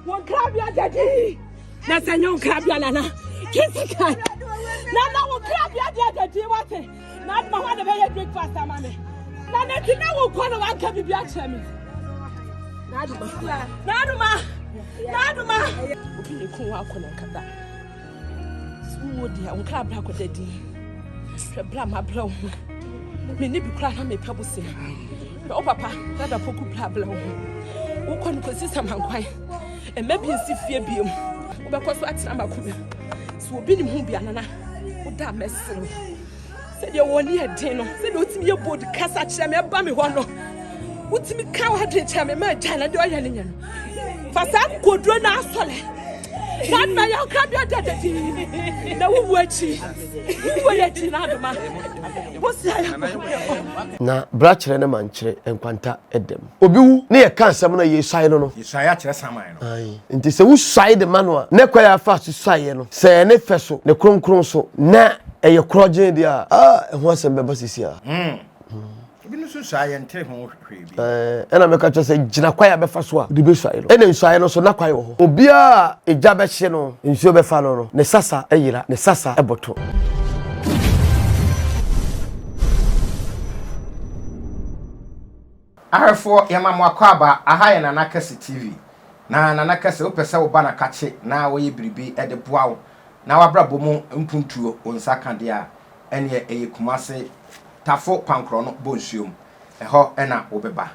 Wɔn nkrabea da dii. Na sɛ nyɛ wɔn nkrabea nana kesi kan. Nana wɔn nkrabea deɛ da dii wate. Na aduma hɔ na bɛyɛ breakfast ama me. Na na ti na wɔn kɔ na wɔn anka bibi akyerɛ me. Na aduma. Na aduma. Na aduma. Obi yɛ kun wɔn akɔ na nkata. So wo deɛ wo nkra bra kɔda din hwɛ bra ma bra wo ho me ne bi kora na mepɛ bo se na wo papa dada poku bra bra wo ho wokɔ no kɔsi samankwan ɛma bi nsi fie biom wobɛkɔ so atena makoma so obi ne mu bianana woda mɛsere sɛdeɛ wɔn ani yɛ den no sɛdeɛ wotumi yɛ bold kasa kyerɛ me ɛba me hɔ no wotumi ka w'adwene kyerɛ me ma agya na deɛ ɔyɛ no nyɛ no fa saa koduro no asɔle saa na yɛ ɔkra bi ada dadi na wowu akyi wowu yɛ akyi na adoma wosi ayɛ na bra kyerɛ ne mankyerɛ nkwanta ɛdɛm obi wu na yɛka asɛm no a, yɛsuae no no. Yɛsuae akyerɛ saman no. Aane. Nti sɛ wosuae de ma no a, ne kwan a afaa so suaeɛ no, sɛ ɛyɛ ne fɛ so, ne kronkron so, na ɛyɛ korɔgyee deɛ a, ah, ɛho asɛm bɛba seesei ara. Hmm. Ebinom nso nsuae a yɛnte ho hwee bi. Ɛɛ, ɛna mɛka kyerɛ sɛ gyina kwan a bɛfa so a wode bɛsuae no. Ɛna nsuaeɛ no nso, na kwan wɔ hɔ. Obiara a egya bɛhye no, nsuo bɛfa no no, ne sasa yera, ne sasa boto. Arefoɔ yɛma mo akwaaba aha yɛ nana kɛse TV na nana kɛse wopɛ sɛ woba na kakye na wɔyɛ biribi de boa wo na wabrabɔ mu mpuntuo wo nsa ka deɛ a ɛneɛ ɛyɛ kumase tafo pankorɔ no bɔ nsuo mu ɛhɔ na wo bɛba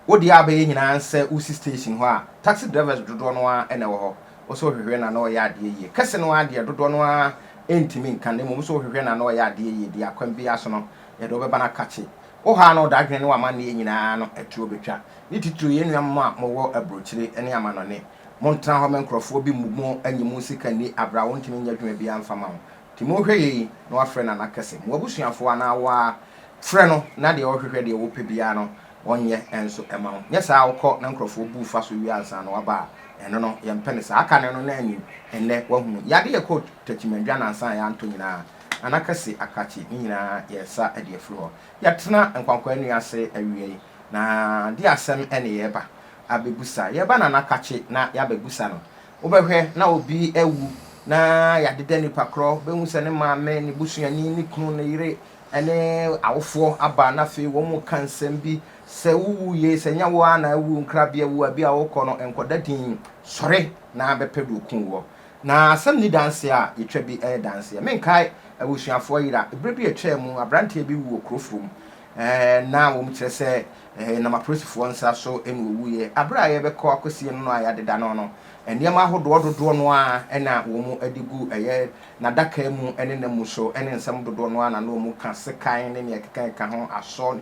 wo deɛ a wobɛyɛ nyinaa nsɛ wo si station hɔ a taxi drivers dodoɔ no ara na ɛwɔ hɔ wo sɛ wohwehwɛ na na wɔyɛ adeɛ yie kɛse no ara deɛ dodoɔ no ara ntumi nka na mmom wo sɛ wohwehwɛ na na wɔyɛ adeɛ yie deɛ akwan biara so no yɛde wo bɛba na kakye Wo haw no, wo dadwen ne w'amanneɛ nyinaa no atuo bɛtwa. Ne titiriw yɛn nuanom a mowɔ aburokyire ne amannɔne. Montena hɔ ma nkurɔfoɔ bi mmu mo anyi mo sika nni aberɛ a wɔntumi nyɛ adwuma biara mfa mma mo. Timohwɛ yei na wafrɛ Nana kɛse. Mo abusuafoɔ anaa wo ara frɛ no na deɛ ɔhwehwɛ deɛ wopɛ biara no ɔnyɛ nso mma wo. Nyɛ saa a wokɔ na nkurɔfoɔ bu wo fa so wie ansa na waba a, ɛno no yɛmpɛ no saa. Kane no na anyin nnɛ woahunu. Yadeɛ kɔɔ takyimadwa nansa a yɛantɔ nyinaa. Anakase akrakye ne nyinaa yɛresa de afiri hɔ. Yɛatena nkwankwaa nnua ase awia yi, na de asɛm ne yɛreba abɛbusa. Yɛreba no anakakye na yɛabɛbusa no. Wobɛhwɛ na obi awu na yɛadeda nipa korɔ, wobɛhu sɛ ne maame, ne busuani, ne kunu, ne yere ne awofoɔ aba na afei wɔn mu ka nsɛm bi. Sɛ wowu yei, sɛ nyɛ wo ara na awu, nkrabea wu a, bi a wokɔ no nkɔda dinn, sɔre na bɛpɛ deɛ ɔkuu woɔ. Na asɛm nni danseɛ a yɛtwa bi yɛ danseɛ. Menkae abusuafoɔ yera berɛ bi a ɛtwaa mu, aberanteɛ bi wu wɔ kuro foro mu. Na wɔkyerɛ sɛ ɛnam apolisifoɔ nsa so na ɔwuiɛ. Aberɛ a yɛbɛkɔ akɔsie no no a yɛadeda no no, nneɛma ahodoɔ dodoɔ no ara na wɔde gu ɛyɛ n'adaka mu ne n'amu so ne nsɛm dodoɔ no ara na na wɔka, sekan ne nea ɛkeka ɛka ho, asɔ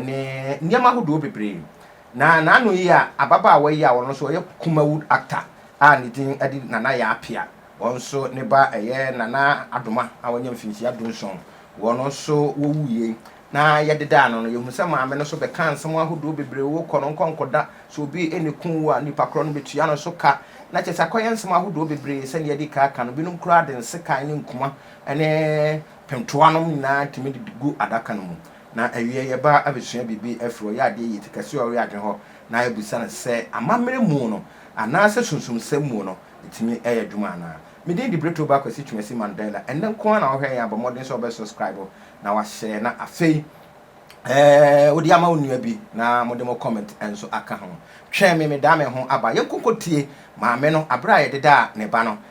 ne nneɛma ahodoɔ bebree. Na n'ano yi a ababaawa yi a ɔno nso ɔyɛ Kumawu actor a ne din de Nana Yaa Appiah, wɔn nso ne ba ɛyɛ Nana Adoma a wanya mfinhyia dunson, wɔn nso wɔwuiɛ yi. Na yɛdedaa no no, yɛhunu sɛ maame no nso bɛkaa nsɛm ahodoɔ bebree, wo kɔ no nkɔ nkɔda, sɛ obi na ɛkum wo a nnipa korɔ no bɛtua no so ka, na kyerɛ sɛ akɔyɛ nsɛm ahodoɔ bebree sɛdeɛ yɛadi kan aka no, binom koraa de nsekan ne nkuma ne pentoanom nyinaa tumi de gu adaka no mu. Na awiei yɛba abɛsua biribi afiri ɔyɛ adeɛ yie te kɛseɛ a ɔyɛ adwene hɔ na abisa no sɛ amammerɛ mu no anaasɛ sunsumsɛm mu no ɛtumi yɛ adwuma anaa. Me din de Bretoba Kwasi Twumasi Mandela. Ɛnnɛ nko ara na wohwɛɛ yɛn a, bɔ mmɔden sɛ wobɛ subscribe na wahyɛ na afei wode ama wo nua bi na mode mo comment nso aka ho. Twɛn me, medaa me ho aba. Yɛnkɔ nkɔtie maame no berɛ a yɛdedaa ne ba no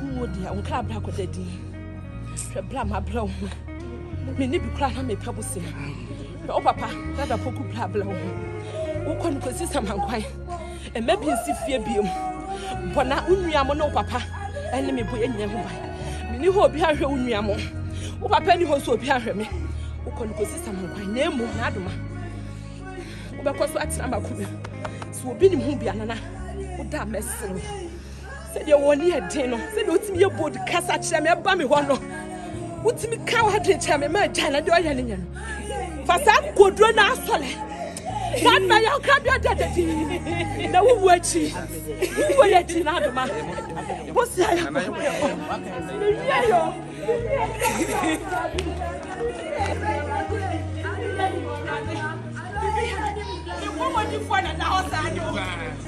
Wo mu deɛ, wo nkra bra kɔda din. Hwɛ bra ma bra wo ho. Me ne bi kora na me pɛ bosea. Hwɛ wo papa, na da poku bra bra wo ho. Wo kɔ no kɔsi samankwan. Ɛmɛ bi nsi fie biem. Bɔ na wo nua mo ne wo papa ɛne me bɔ yɛ nyina ho ban. Me ne hɔ obi ahwɛ wo nua mo. Wo papa ni hɔ nso obi ahwɛ me. Wo kɔ no kɔsi samankwan. Na emu, na adoma. Wobɛkɔ so atena makoma. So obi nim ho bi anana. Wo da mɛsere. sɛdeɛ wɔn ani yɛ den no sɛdeɛ wotumi yɛ bold kasa kyerɛ me ɛba me hɔ no wotumi ka w'adwene kyerɛ me ma agya na deɛ ɔyɛ no nyɛ no fa saa koduro no asɔle saa na yɛ ɔkra bi ɔda dadi na wowu akyi wowu yɛ akyi na adoma wosi ayɛ kɔ mewie yɔ Mɔmɔdifoɔ na na hɔ saa de o.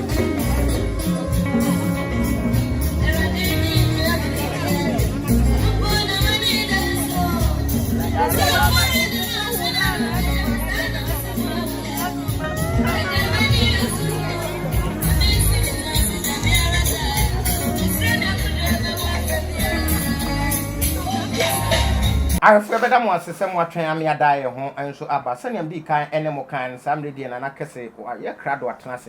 Ahwɛfo, yɛbɛda mo ase sɛ moatwɛn ama yɛada yɛn ho nso aba. Sɛnea midii kan ne mo kae no, saa mmere deɛ na na kɛse wɔ yɛn krado atena ase.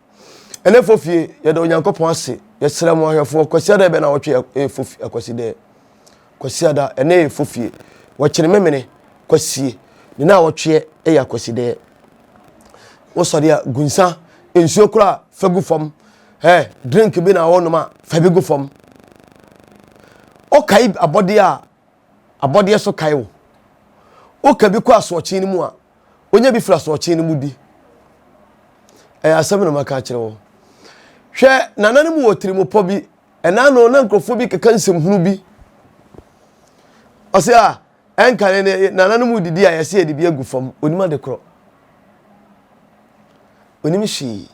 ɛnɛ fo fie yɛda onyankopɔn ase yɛsrɛ mo ahwɛfoɔ kwasi ada bɛn na wɔtwe ɛyɛ fo fie akwasi dɛ kwasi ada ɛnɛ yɛ fo fie wɔkyere memene kwasie ne na wɔtweɛ ɛyɛ akwasi dɛ wosɔre a gu nsa nsuo kora a fa gu fam ɛ drink bi na wɔnom a fa bi gu fam ɔkae abɔdeɛ a abɔdeɛ so kae wo. Woka bi kɔ asoɔkye no mu a, wonya bi firi asoɔkye no mu bi. Ɛyɛ asɛm na maka akyerɛ wo. Hwɛ, nana no mu wɔ tirimupɔ bi. Ɛna no na nkurɔfoɔ bi keka nsɛmhunu bi. Ɔsɛ a, ɛnka ne ne nana no mu didi a yɛsɛ yɛde bi agu fam. Onim ade korɔ. Onim hwee.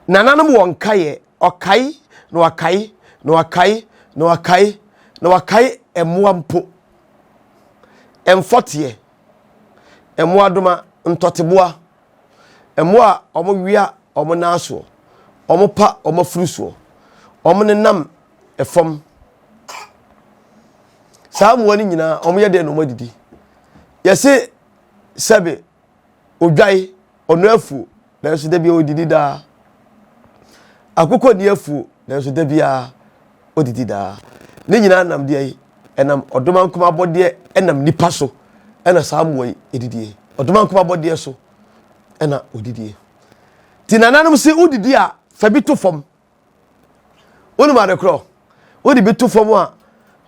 Nana no mu wɔ nkaeɛ. Ɔkae, na wakae, na wakae, na wakae, na wakae mmoa mpo. Mfɔteɛ, mmoadoma, ntɔteboa, mmoa a wɔwea wɔn nan asoɔ, wɔpa wɔn afuru soɔ, wɔnenam fam. Saa mmoa no nyinaa, wɔyɛ dɛn na wɔadidi? Yɛse sɛbe odwan, ɔno afuo, nanso da biara ɔdidi daa. Akokɔ nni afuo, nanso da biara ɔdidi daa. Ne nyinaa nam deɛ yi, ɛnam ɔdomankoma abɔdeɛ, ɛnam nipa so, ɛna saa mmoa yi ɛdidie. Ɔdomankoma abɔdeɛ so, ɛna ɔdidie. Ti nananom se wodidi a, fa bi to fam Wonim ade korɔ? Wode bi to fam a,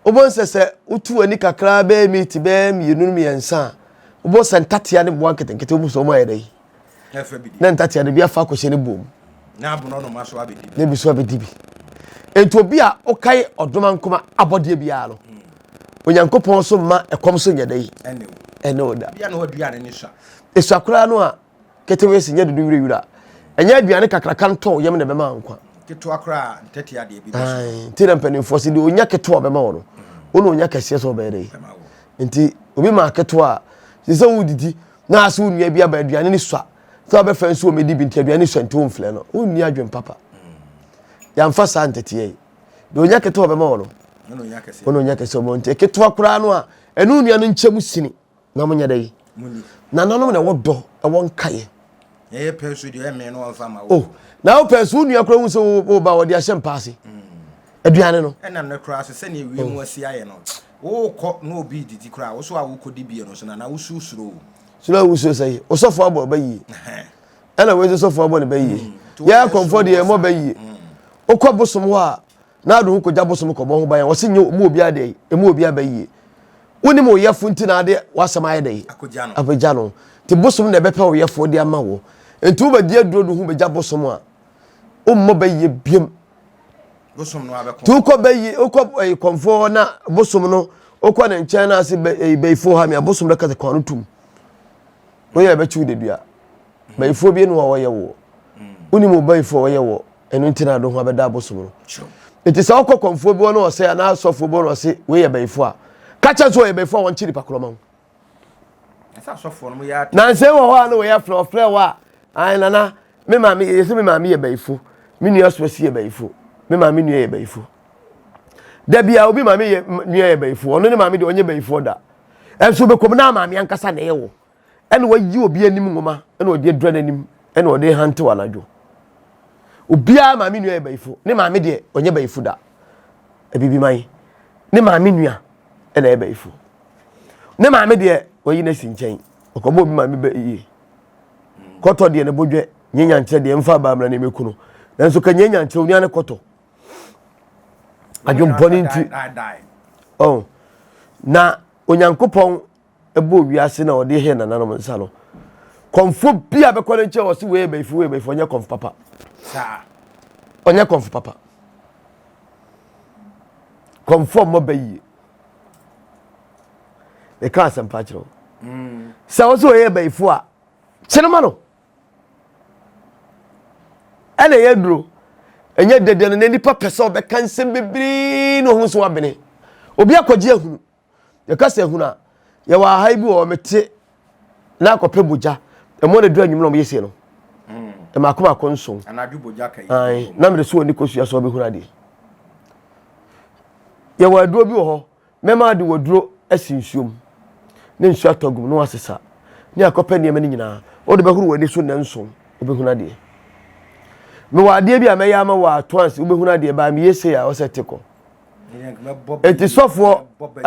wobɛhu sɛ sɛ wotu w'ani kakraa bɛyɛ miiti bɛyɛ mmienu mmiɛnsa a, wobɛhu sɛ ntatea ne mmoa nketenkete wɔ mu sɛ wɔn ayɛ dɛ yi. Na ntatea no bi afa akɔhyɛ ne buom. Na aborɔnoma so abɛdi bi. Na ebi so abɛdi bi. Enti obi a ɔkae ɔdoma nkoma abɔdeɛ biara no, hmm. Onyankopɔn so mma ɛkɔm so nyɛ dɛ yi. Ɛne wo da. Bia na ɔduane ne sua. Esua koraa no a, Ketewee se nyɛ dodo wira wira. Ɛnyɛ aduane kakraka ntɔw yam na ɛbɛma nkwa. Ketewa koraa a, ntɛtea a deɛ bi bɔ so. Nti na mpanimfoɔ se deɛ ɔnya ketewa a ɔbɛma wo no, wo na ɔnya kɛseɛ sɛ ɔbɛyɛ dɛn. Nti obi maa ketewa a, ɛsɛ sɛ wodidi na ase wo nua bi aba aduane no sua. Sɛ ɔbɛfrɛ nso ɔmmɛdi bi nti aduane no sua nti womfrɛ no. Wonni adwene papa. Yɛamfa saa ntɛtea yi. Deɛ ɔnya ketewa a ɔbɛma wo no, wo na ɔnya kɛseɛ sɛ ɔbɛma wo. Nti ketewa koraa no a, ɛne wo nua no nkyɛ mu sini. na mo nyɛ dɛ yi nananom na ɛwɔ dɔ ɛwɔ nkaeɛ ɛyɛ pɛ so deɛ ɛmɛ no ɔnfa ma wo oh, na wo pɛ so wo nua kora hu sɛ wo ba wɔde ahyɛ mpa ase mm. aduane no ɛnam no koraa so sɛnea wie mu oh. asi ayɛ no wokɔ na obi didi koraa wo so a wokɔdi bie no so na na wosuo suro o so na wosuo sɛ yi wosɔfoɔ abɔ ɔba yie ɛna wei sɛ sɔfoɔ abɔ ne ba yie mm. yɛ akɔmfoɔ deɛ ɛmɔ ba yie mm. wokɔ bosom hɔ a na ade ho kogya bosom kɔbɔ ho ban a wɔse nyɛ ɔmu obiara dɛ emu obiara bɛ yie wonim wo yɛfo nti na ade wasɛm ayɛ dɛ apagya no nti bosom na ɛbɛpɛ wo yɛfo de ama wo nti wobɛdi adurodu ho bɛgya bosom a wommɔ bɛ yie biam nti wokɔ bɛ yie wokɔ ɛyi kɔnfoɔ na bosom no wokɔ ne nkyɛn na ase bɛ ɛyi bɛyifoɔ ha mi a bosom no kasa kwan no tum woyɛ ɛbɛkyi wo dedua bɛyifoɔ bi ne wɔyɛ wo wonim wo bɛyifoɔ wɔyɛ wo ɛno nti na adoho abɛda abosom no nti sɛ ɔkɔ kɔnfoɔ bi hɔ na ɔsɛ anaa asɔfoɔ bi hɔ na ɔse wei yɛ bɛyifoɔ a ka kyɛ so ɔyɛ bɛyifoɔ a wɔnkye nipa korɔ ma ho nansɛ wɔ hɔ a na wɔyɛ frɛ ɔfrɛ wɔ a ae nana me maame yɛ sɛ me maame yɛ bɛyifoɔ me nua so asi yɛ bɛyifoɔ me maame nua yɛ bɛyifoɔ da bia obi maame yɛ nua yɛ bɛyifoɔ ɔno ne maame deɛ ɔnyɛ bɛyifoɔ da ɛnso bɛkɔm na maame ankasa na ɛyɛ wɔ ɛna wayi obi anim nwoma ɛna ɔde adura n'anim ɛna ɔde hantew anadwo obiara maame nua yɛ bayifo ne maame deɛ ɔnyɛ bayifo da abibi man ne maame nua ɛna yɛ bayifo ne maame deɛ ɔyi n'asi nkyɛn ɔkɔbɔ obi maame bɛ yie kɔtɔ deɛ ne bodwɛ nye nyankyerɛ deɛ mfa abaamra ne mekunu nanso ka nye nyankyerɛ onua ne kɔtɔ adwempɔ ne nti ɔn na onyankopɔn bɔɔ wiase na ɔde hyɛɛ nananom nsa no, kɔmfoɔ bi a bɛkɔ ne nkyɛn ɔse wei yɛ bɛyifoɔ, wei yɛ bɛyifoɔ, ɔnyɛ kɔmfo papa. Ɔnyɛ kɔmfo papa. Kɔmfoɔ mmɔ bɛ yie. Meka asɛmpa akyerɛ wo. Mm. Sɛ wo sɛ ɔyɛ bɛyifoɔ a, kyenema no. Ɛna ɛyɛ duro. Ɛnyɛ dɛdɛ no na nipa pɛ sɛ ɔbɛka nsɛm bebree na ɔho so abene. Obi akɔgye ahunu. yɛka sɛ hunu a yɛwɔ aha yi bi wɔ mete na akɔpɛ bogya ɛmɔ na dura nwumena ɔmoyɛ sei no ɛmaako mm. maako nson na mede so wɔ ne kɔsua sɛ ɔbɛhunu adeɛ yɛwɔ aduro bi wɔ hɔ mɛma de wɔ duro asi nsuom ne nsuo atɔ gum na wasesa ne akɔpɛ nneɛma no nyinaa wode bɛhoro wɔ ani so nnɛ nson wobɛhunu adeɛ mewɔ adeɛ bi a mɛyɛ ama wɔ atoanse wobɛhunu adeɛ baa meyɛ sei a ɔsɛ te kɔ enti sɔfoɔ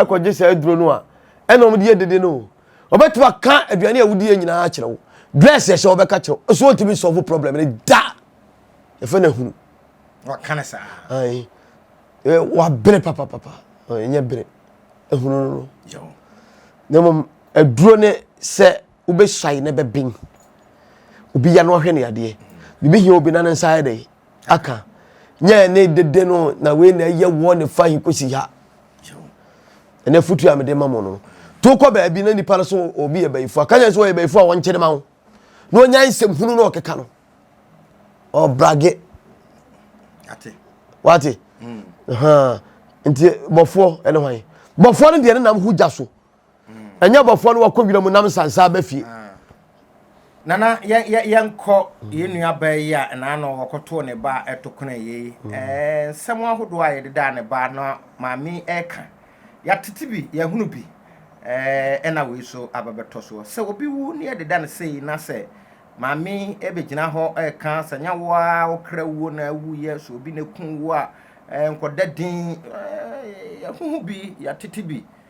kɔgye saa aduro no a ɛna wɔn de yɛ dede no wɔbɛtumi aka aduane a wodi yɛ nyinaa akyerɛ wo dress yɛ hyɛ wɔbɛka kyerɛ wo so wɔntumi sɔfo problem no da yɛfɛ no ahunu wɔka no saa ayi wabere papapapa ɛnyɛ bere ahunu no no na mmom aduro ne sɛ wobɛsuae na bɛben obi ya no ɔhwɛ ne adeɛ biribi hia obi na ne nsa ayɛ dɛ aka nyɛ ne dede no na wei na ɛyɛ wɔ ne fa yi kɔsi ha ɛnɛ fotu a mede ma mo no to kɔ baabi na nipa no so obi yɛ bayifo aka nyɛ sɛ ɔyɛ bayifo a wɔnkyere ma wo na ɔnya nsɛm hunu na ɔkeka no ɔbrage wate hmm. nti bɔfoɔ ɛne hwan bɔfoɔ no deɛ ne nam ho gya so Ɛnyɛ abɔfoɔ no wɔkɔ wiram nam nsansa aba fie. Nana yɛnkɔ yɛn nua baa yi a ɛnaano wɔkɔtoo ne ba a ɛto kono yɛ yi. Nsɛm ahodoɔ a yɛde daa ne ba na maame ɛka. Yɛatete bi, yɛahunu bi. Ɛna wei so aba bɛtɔ soɔ. Sɛ obi wu ne yɛde da no sei na sɛ maame ɛbɛgyina hɔ ɛka sɛ nyɛ wo a wokra wuo na awuiɛ, sɛ obi na ɛku wo a nkɔda din. Yɛahuhu bi, yɛatete bi.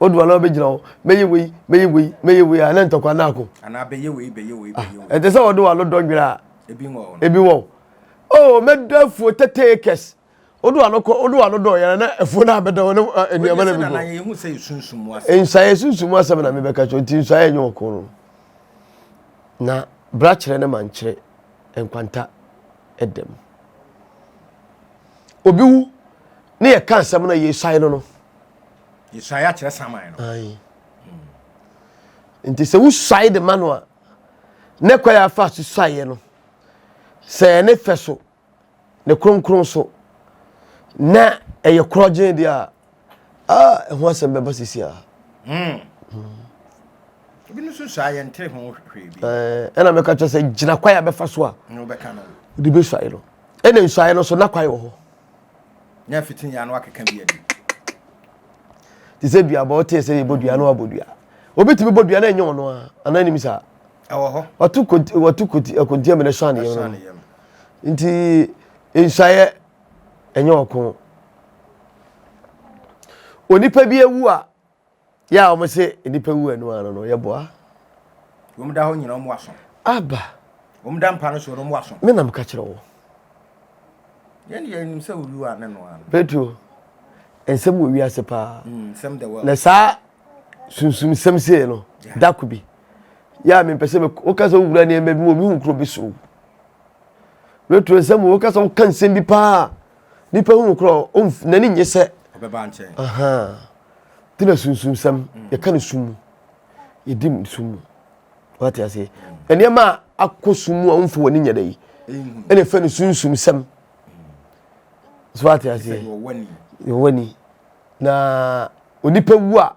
Wodu hɔ a na wabɛgyina hɔ, mɛyɛ wei, mɛyɛ wei, mɛyɛ wei a na ntɔkwa no ako. Anaa bɛyɛ wei, bɛyɛ wei, ah, bɛyɛ wei. Ɛte sɛ wɔde w'ano dɔ nwera a. Ebi wɔ hɔ. Ebi wɔ hɔ. Oh, mɛda afuo tetee kɛse. Wode w'ano kɔ, wode w'ano dɔ yɛrɛ na afuo no abɛda hɔ na ah, nneɛma no bɛgu. Wɔde yɛhu sɛ esunsum mu asɛm. Nsaeɛ sunsum mu asɛm na mebɛka kyerɛ nti nsaeɛ nyɛ ɔko no. Na bra kyerɛ ne ma nkyerɛ nkwanta ɛdɛm. Obi wu ne yɛka asɛm no yɛsae no no. Yɛsuae akyerɛ saman no. Ae. Nti sɛ wosuae de ma no a, ne kwa yɛ afa so suaeɛ no, sɛ ɛyɛ ne fɛ so, ne kronkron so, na ɛyɛ korɔgyee deɛ a, ah, ɛho asɛm bɛba sisi a. Hmm. Hmm. Ebi no so suae yɛn ntere ho hwee bi. Ɛɛ, eh, ɛna mɛka kyerɛ sɛ gyina kwa yɛ abɛfa so a. Na wobɛka no. Wode bɛsuae no. Ɛna nsuae no so na kwa yɛ wɔ hɔ. Nya fiti nya no akeka bi adi. Te sɛ dua bɔ ɔte sɛ yɛbɔ dua na wabɔ dua. Obi tumi bɔ dua na ɛnyɛ ɔno a anaa nim saa. Ɛwɔ hɔ. Watu konti watu konti akonti amene sɔ aneyɛ no. Nti nsuayɛ ɛnyɛ ɔko. Onipa bi awu a Yɛ a wɔn se nnipa wu ɛno ano no, yɛ boa. Wɔn da hɔ nyina wɔn aso. Aba. Wɔn da mpa no so no wɔn aso. Me nam ka kyerɛ wo. Yɛn de yɛn nim sɛ owi wa ne no ano. Petro, nsɛm wɔ wiase paa. Mm, nsɛm the world. Na saa sunsum nsɛm sei no, da ko bi. Yɛ a mempɛ sɛ woka sɛ wowura nneɛma bi mu, mehu kuro bi so. Petro, nsɛm woka sɛ woka nsɛm bi paa. nipa hu no kora ɔnf n'ani nye sɛ ɔbɛba nkyɛn ahaa de na sunsunsɛm mm. yɛka no sum mu yɛdi mu sum mu wate aseɛ mm. nneɛma a akɔ sum mu a womfa w'ani nyɛ da yi ɛna ɛfɛ no sunsumsɛm mm. so wate aseɛ yɛwɔ ani na onipa wu a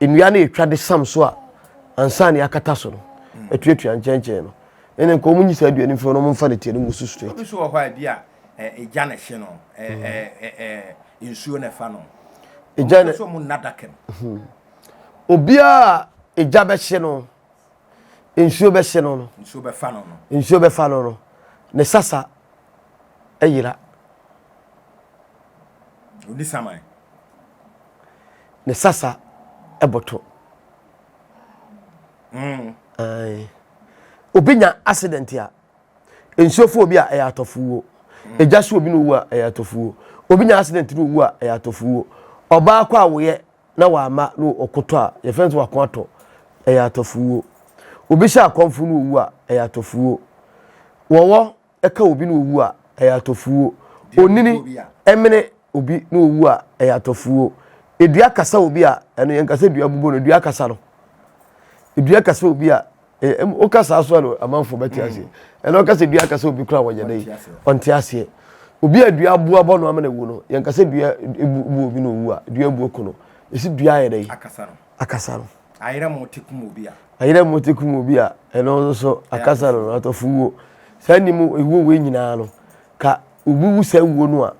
nnua no ɛtwa de sam so a ansa ne akata so no atuatua nkyɛnkyɛn no ɛne nka wɔn nyi saa dua no mfiri no wɔn mfa no tia no mu so straight. Obi so wɔ hɔ a ebi a egya na ɛhye no ɛɛ nsuo na ɛfa no. Egya na so wɔn nna daka mu. Obiara egya bɛhye no nsuo bɛhye no no nsuo bɛfa no no nsuo bɛfa no no ne sasa ɛyera. Oni saman. ne sasa ɛbɔtɔ mm. obi nya accident a nsuo fo obi a ɛyɛ atɔfuo egya mm. so obi na owu a ɛyɛ atɔfuo obi nya accident na owu a ɛyɛ atɔfuo ɔbaa kɔ awoyɛ na wama na ɔkotɔ a yɛfɛn nso wakɔ atɔ ɛyɛ atɔfuo obi hyɛ akɔnfo na owu a ɛyɛ atɔfuo wɔwɔ. ɛka obi na owu a, ɛyɛ atɔfuo. Onini mene obi na owu a, ɛyɛ atɔfuo. Edua kasa obi a, ɛno yɛn kasa dua bobɔ no, edua kasa no. Edua kasa obi a, o kasa so ano amanfo bɛte mm. aseɛ. Ɛna ɔka sɛ dua kasa obi kora wɔnyɛ dɛ, ɔnte aseɛ. Obi a dua aboa bɔ no ama na ewu no, yɛn kasa dua ebu ebu obi na owu a, dua ebu ko no. Esi dua ayɛ dɛ. akasa no. Ayera mu te kum obi a. Ayera mu te kum obi a, ɛno nso so akasa no, atɔfo wuo. Saa nne mu ewuo wei nyinaa no, ka obi wu saa wuo no a,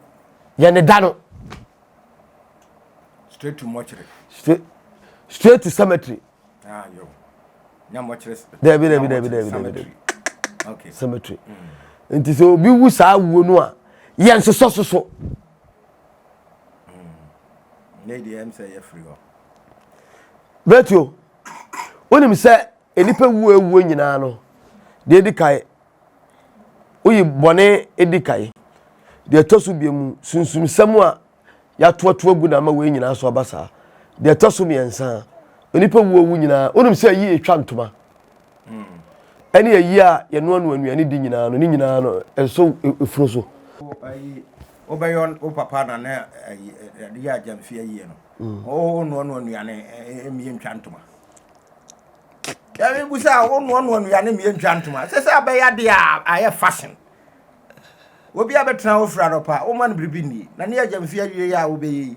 yɛ ne da no. Straight to mortuary. Straight, straight to cemetery. Ah, yo. Nya mortuary. Dabi, dabi, dabi, dabi, dabi, dabi. Okay. Cemetery. Mm. Nti sɛ obi wu saa wuo no a, yɛ nsosɔ soso. Betio, wonim sɛ nnipa wuo awuo nyinaa no, deɛ ɛdi kae, woyi bɔne di kae. Deɛ ɛtɔ so mmienu, sunsumsɛm a yɛatoatoa gu na ama wei nyinaa so aba saa. Deɛ ɛtɔ so mmiɛnsa, nnipa wuo wu nyinaa, wonim sɛ ayi ɛtwa ntoma. ɛne ayi a yɛnoanoa nnuane di nyinaa no, ne nyinaa no, ɛsɔ efunu so. Wobɛyɛ wo papa na ne yɛ agyamfi ayie no, wonoanoa nnuane mmie ntwa ntoma. Yɛrebu sɛ wonoanoa nnuane mmie ntwa ntoma, ɛsɛ sɛ abɛyɛ adeɛ a ayɛ fashion. Obi a bɛtena wo fira no pa, woma no biribi nni, na ne yɛ agyamfi ayie a wobɛyɛ yi,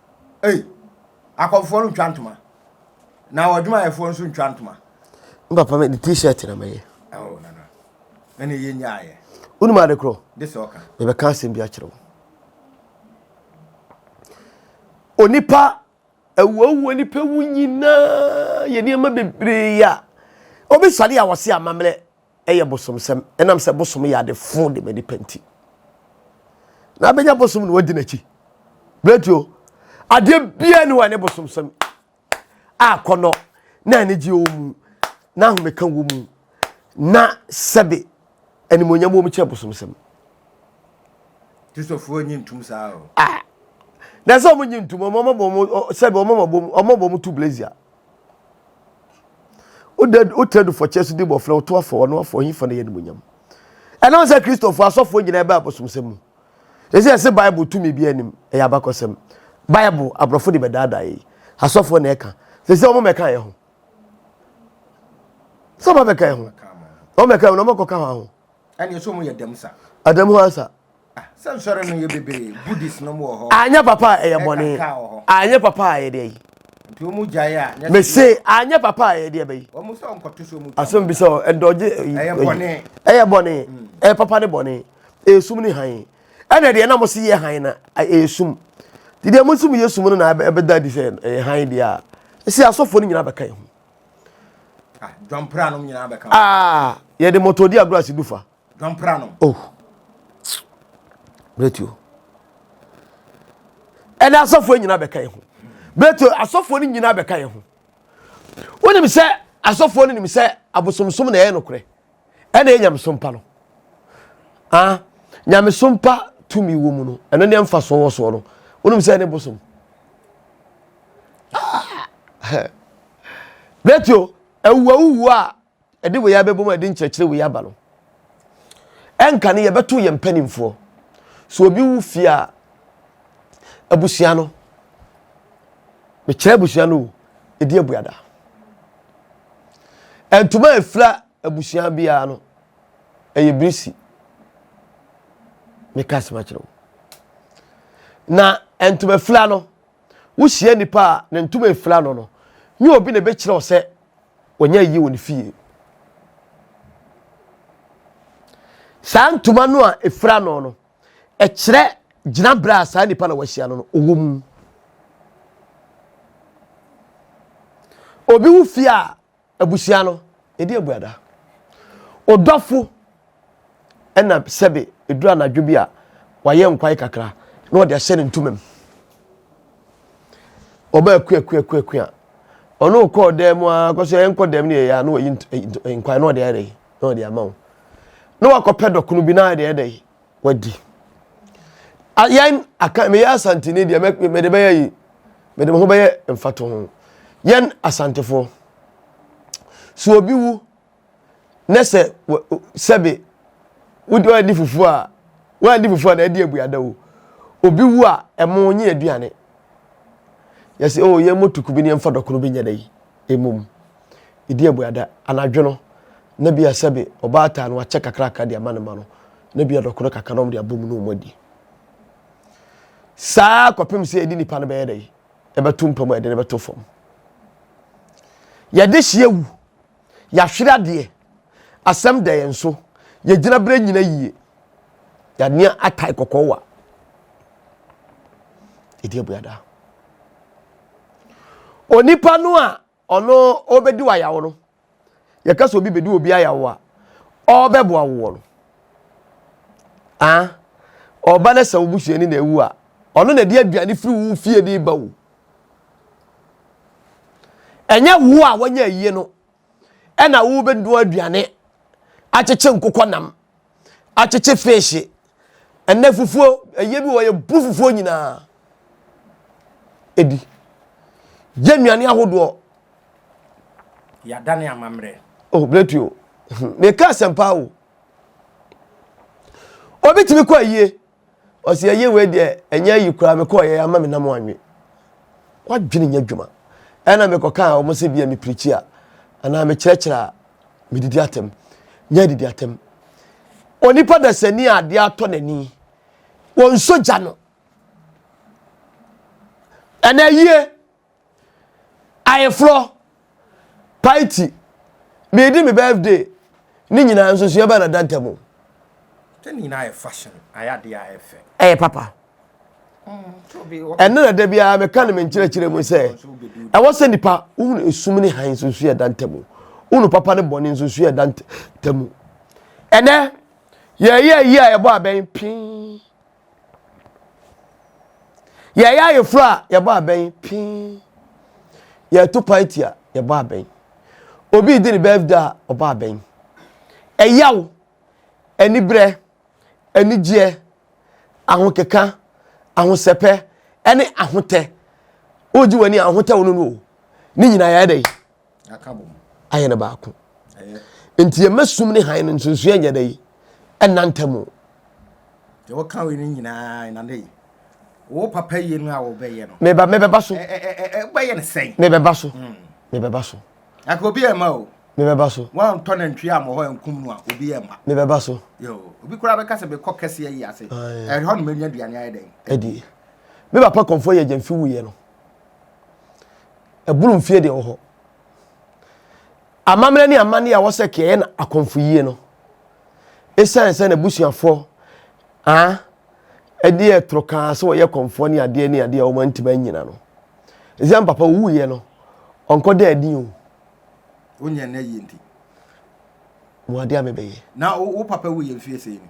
Ei, akɔmfoɔ no ntwa ntoma. Na ɔdwumayɛfoɔ nso ntwa ntoma. N papa me de t-shirt na mɛyɛ. Oh, nana. Ɛna yɛ nyaayɛ. Wonim ade korɔ? De sɛ ɔka. Mebɛka asɛm bi akyerɛ wo. Onipa awuawuo nipa wu nyinaa yɛ nneɛma bebree a obi sɔre a wɔse amammerɛ yɛ bosomsɛm ɛnam sɛ bosom yɛ ade fo de ma nipa nti na abɛnya bosom na wadi n'akyi berɛtuo adeɛ biara ni hɔ a ne bosomsɛm a kɔnɔ na anigye wɔ mu na ahomeka wɔ mu na sɛbe animonyam wɔ mu kyɛ bosomsɛm kristofoɔ nyi ntum saa o ah na sɛ ɔmo nyi ntum ɔmo ɔmo bɔ ɔmo sɛbe ɔmo ɔmo bɔ ɔmo bɔ ɔmo tu blazer wode wotra du fɔkyɛ so di mmɔfra woto afɔ wɔn afɔ ɔhin fa no yɛ animonyam ɛnam sɛ kristofo asɔfoɔ nyinaa bɛ abosomsɛm mu ɛsɛ ɛsɛ bible tumi bi anim ɛyɛ abakɔsɛm bible aborɔfo de bɛdaadaa yi asɔfoɔ na ɛka sɛ sɛ wɔn bɛka yɛ ho sɛ wɔn bɛka yɛ ho wɔn bɛka yɛ ho na wɔn akɔka ho ɛne ɛsɛ wɔn yɛ dɛm sa adam ho ansa Anyɛ papa a ɛyɛ bɔne. Anyɛ papa a ɛyɛ deɛ yi. Mese anyɛ papa a ɛyɛ deɛ bɛyi. Asɛm bi sɛ ɛdɔgye ɛyɛ bɔne. Ɛyɛ papa ne bɔne. Ɛyɛ sum ne hann. Ɛna deɛ na mo se yɛ hann na ɛyɛ sum. Ti deɛ mo sum yɛ sum no na ɛbɛda adi sɛ ɛyɛ hann deɛ a. Ɛsɛ asɔfoɔ no nyinaa bɛka ɛho. Ah, yɛde mɔtɔdi agorɔ asidufa. Dwampra no. Oh. Bretuo. Ɛna asɔfoɔ nyinaa bɛka yɛn ho. Bretuo asɔfoɔ no nyinaa bɛka yɛn ho. Wonim sɛ asɔfoɔ no nim sɛ abosomsom na ɛyɛ nokorɛ. Ɛna ɛyɛ nyamesom pa no. Ah, nyamesom pa tumi wɔ mu no, ɛno ne ɛmfa soɔ wɔ soɔ no. Wonim sɛ ɛne bosom. Ah. Bretuo, awuawuwu a Ɛde wei abɛbom a ɛde nkyerɛkyerɛ wei aba no, ɛnka no yɛbɛto yɛn mpanimfoɔ. So obi wu fie a, abusua no, mekyerɛ abusua no o, ɛdi abuada. Ntoma efira abusua biara no, ɛyɛ birisi. Meka asɛm akyerɛ wo. Na ntoma fira no, Wuhyia nipa a ne ntoma afura no no, nyɛ obi na ebekyerɛ wo sɛ ɔnyɛ ayi wɔ ne fie. Saa ntoma no a efura no no, ɛkyerɛ gyinabere a saa nipa na wahyia no no ɔwɔ mu. Obi wo fie a, Abusua no, yɛdi abuada. Ɔdɔfo na sɛbe ɛduru anadwo bi a wayɛ nkwae kakra na ɔde ahyɛ ne ntoma mu. Ɔba akuakuakuaku a, ɔne wo kɔɔ dan mu a, kɔ so ɛnkɔ dan mu ne yɛyɛ a, na wayi nkwae na ɔde ayɛ dɛ, na ɔde ama wo. Na wakɔpɛ dɔkono bi na ayɛ dɛ, wadi yɛn aka meyɛ asanteni deɛ mede bɛyɛ yi mede me ho bɛyɛ mfato ho yɛn asantefoɔ so obi wu ne sɛ sɛbe wodi ɔdi fufuo a wɔadi fufuo a na ɛdi abuada o obi wu a ɛmo nye aduane yɛsɛ o oh, yɛn mo tuku bi ne yɛn fa dɔkono bi nyɛ dɛ yi emom. Ɛdi abuada, anadwo no, na bia sɛbe ɔbaatan no wakyɛ kakrakra de ama ne ma no, na bia dɔkono kakra na wɔn de abɔ mu na wɔn adi. Saa kɔpem sɛ yɛde nipa no bɛyɛ dɛ, ɛbɛto mpa mu a yɛde no bɛto fam. Yɛde hye awu, yɛahwere adeɛ, asɛm da yɛn so, yɛgyina berɛ nyina yie, yɛanea atae kɔkɔɔ wa. Ɛdi abuada. Onipa no a Ɔno ɔbɛdi wo ayaw no. Yɛka sɛ obi bɛdi obi ayaw a, ɔrebɛboa wo wɔ no. Ah, ɔba no sɛ wo busuani na awu a, ɔno na ɛde aduane firi wo fie de ba wo. Ɛnyɛ wo a wanya ayie no ɛna wobɛnoa aduane akyekye nkokɔ nam akyekye feehye. Ɛnɛ fufuo, ɛyɛ bi wɔ yɛ bu fufuo nyinaa. Ɛdi. Yɛ nnuane ahodoɔ. Yɛadane amammerɛ. Oh, Bletio, meka asɛmpa o. Obi tumi kɔ ayie. Ɔse ɛyɛ wei deɛ ɛnyɛ ayi koraa mekɔɔyɛ ama me nam anwe wadwene nyɛ adwuma ɛna mekɔ kaa wɔn sɛ bia me pirikyi a anaa me kyerɛkyerɛ a me didi atɛm nyɛ adidi atɛm onipa dasani a adeɛ atɔ n'ani wɔn nso gya no ɛna ayie Ayeforɔ, Paiti, meredi me birthday ne nyinaa nsusuɛ bɛn na da ntamu? Sɛ ne nyinaa yɛ fashion, ayɛ adeɛ a ɛyɛ fɛ. Ɛyɛ papa. Ɛno na da biara meka no me nkyerɛkyerɛ mu sɛ ɛwɔ sɛ nipa wohunu esum ne hann nsusuɛ da ntamu. Wohunu papa ne bɔne nsusuɛ da ntamu. Ɛnɛ, yɛyɛ ayi a ɛbɔ abɛn pii. Yɛyɛ ayeforo a, yɛbɔ abɛn pii. Yɛto party a, yɛbɔ abɛn. Obi redi ne birthday a, ɔbɔ abɛn. Ɛyaw, aniberɛ, anigyeɛ, ahokeka, ahosɛpɛ, ne ahotɛ. Wogye w'ani a, ahotɛ wo no no o. Ne nyinaa yɛyɛ dɛn? ayɛ no baako nti yɛma sum ne hann no nsonsoɛ nyɛ dɛ ɛnna ntam o wɔka wei no nyinaa ɛnade yi wo papa yie no a wɔbɛyɛ no meba mebɛba so wobɛyɛ no sɛn mebɛba so hmm. mebɛba so aka obi ɛma o mebɛba so woantɔ nantwie a mmɔhɔ ankum no a obi ɛma mebɛba so obi koraa bɛka sɛ mekɔ kɛseɛ yi ase ɛhɔ no mɛnya aduane ayɛ dɛn adie me papa kɔmfoɔ yɛ gyamfi wuyɛ no ɛboro mfie deɛ wɔ hɔ amammerɛ ne amanne a wɔsɛ kɛɛ na akɔmfo yie no ɛsiane sɛ n'abusuafoɔ a ɛde ɛtoro kaa sɛ wɔyɛ kɔmfoɔ ne adeɛ ne adeɛ a wɔn ntoma nyina no ɛsiane papa owuiɛ no ɔnkɔ dɛ adi o wonyɛ na yie nti mo adeɛ a mebɛyɛ na wo papa wuyɛ mfie sɛ ni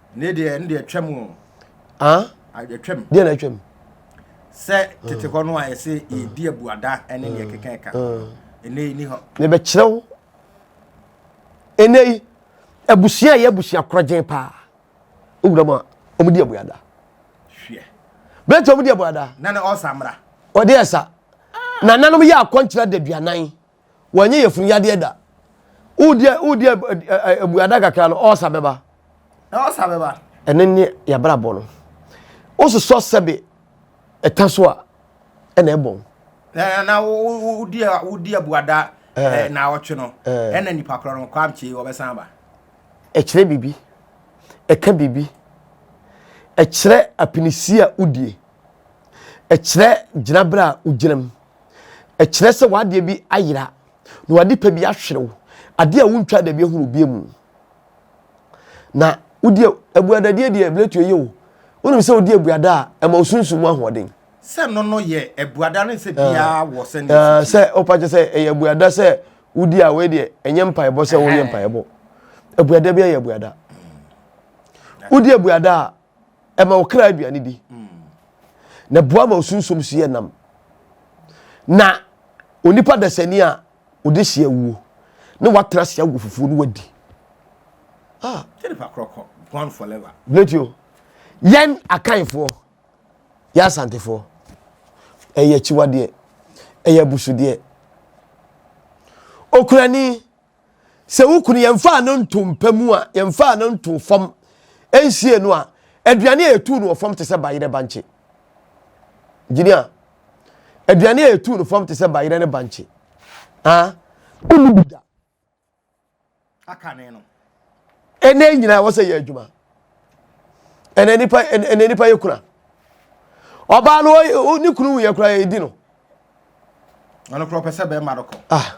Ne deɛ ne deɛ twam o. Ah? Atwam. Deɛ na atwam. Sɛ tete hɔ no a yɛsɛ yɛdi abuada ne deɛ keka ɛka. Ɛnɛ yi ni hɔ. Mebɛkyerɛ wo. Ɛnɛ yi abusua yɛ abusua korɔgyen paa. Owura mu a wɔn di abuada. Hwɛ. Bɛrɛ tí wɔn di abuada. Nana ɔsa mra. Ɔde ɛsa. Nananom yɛ akɔnkyerɛ da duanan. Wanyɛ yafunu yadeɛ da. Wodi wodi abuada kakra no ɔsa bɛba. Na ɔsa bɛba. Ɛne ne yabrabɔ no. Wososɔ sɛbe ɛta so a ɛna ɛbɔn. Na na wodi wodi abuada eh, na ɔtwe no. Ɛna nipa korɔ no kwamkye wɔbɛsan ba. Ɛkyerɛ biribi. Ɛka biribi. Ɛkyerɛ apinisi a wodie. Ɛkyerɛ gyinaberɛ a wogyinam. Ɛkyerɛ sɛ w'adeɛ bi ayera na w'ade pa bi ahwere wo. Adeɛ a wontwa da bi ahunu obia mu. Na wodi abuadadeɛ deɛ ɛbɛtu ɛyɛ o. Wonim sɛ wodi abuada a ɛma wo sunsum mu ahoɔden. Sɛ no no yɛ abuada ne sɛ biara wɔ sɛ ne sisi. Sɛ wopa kyɛ sɛ ɛyɛ abuada sɛ wodi a wei deɛ ɛnyɛ mpaebɔ sɛ wonyɛ mpaebɔ. Abuada bi ayɛ abuada. Wodi abuada a ɛma wo kra aduane di na boa ma osunsum so yɛ nam na onipa dasani a ɔde hyɛ awuo na watena ase awo fufuo no wadi ah gone forever bletio yɛn akanfoɔ yɛ asantefoɔ ɛyɛ akyiwadeɛ ɛyɛ abusudeɛ okurani sɛ wo kunu yɛmfaa no nto mpa mu a, yɛmfaa no nto fam nsie no a, aduane a yɛtuu no wɔ fam te sɛ bayerɛ bankye. Gyini a, aduane a yɛtuu no fam te sɛ bayerɛ ne bankye. Ah, wonni bi da. Aka ne no. Ɛnɛ nyinaa wɔ sɛ yɛ adwuma. Ɛnɛ nipa ɛnɛ nipa yɛ kuna. Ɔbaa no ne kunu yɛ kura yɛ di no. Ɔno kura ɔpɛ sɛ bɛrima no kɔ. Ah.